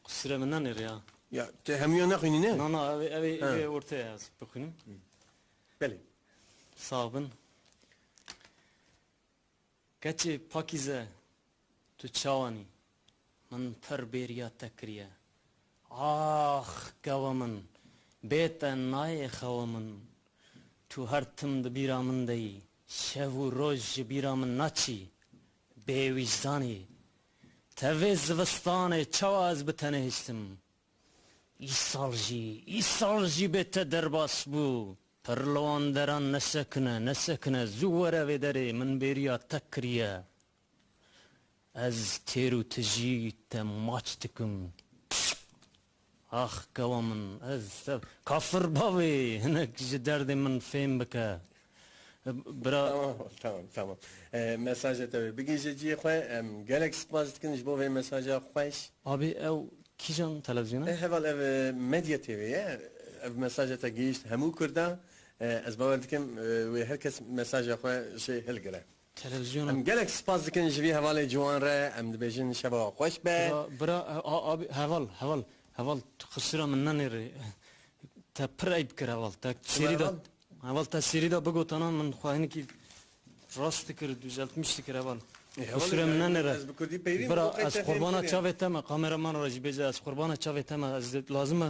Sure min ne nêrê ya. Ya te hemûyan nexwînî ne? Na na ev ev Ha. ev orta ya ez bixwînim. Belê. Sağ bin. Keçê Pakîze tu çawanî min pir bêriya te kiriye. Ax gava min bê te nayê xewa min. Tu her tim di bîra min de yî. Şev û roj ji bîra min naçî. Bê wîjdanî, tevê zivistanê çawa ez bi te nehiştim. Îsal jî, îsal jî bê te derbas bû. Pir li wan deran nesekine, nesekine, zû were vê derê, min bêriya te kiriye. Ez têr û tijî te maç dikim. Ax kewa min ez sev. Kafir bavê hinek ji derdê min fêm bike bira. Tamam tamam tamam mesaja te wê bigihije ciyê xwe em gelek spas dikin ji bo vê mesaja xweş. Abê ew kîjan televîzyona? E heval ev Medya TV ye ev mesaja te gihişt hemû kurda ez bawer dikim wê her kes mesaja xwe jê hilgire. Em gelek spas dikin ji vî hevalê ciwan re, em dibêjin şeva we xweş be. Bira, bira, abi, heval, heval, heval, tu qisira min nenêrê, te pir eyb kir heval, te serî de, heval te serî de bigotana min xwe hinekî rast dikir, dûzeltmiş dikir heval. Qisira min nenêre. Bira, ez qurbana çavê te me, kameraman re jî bêje, ez qurbana çavê te me, ez dê lazim e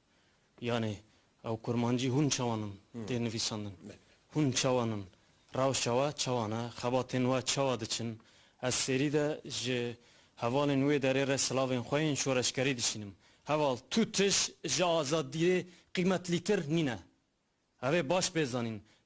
Yanê ew kurmancî hûn çawan in tê nivîsandin? Hûn çawan in? Rewşa we çawan e? Xebatên we çawa diçin? Ez sêrî de ji hevalên wê derê re silavên xwe yên şoreşgerî dişînim. Heval, tu tij ji azadiyê qîmetlîtir nîne. Ev ê baş bê zanîn,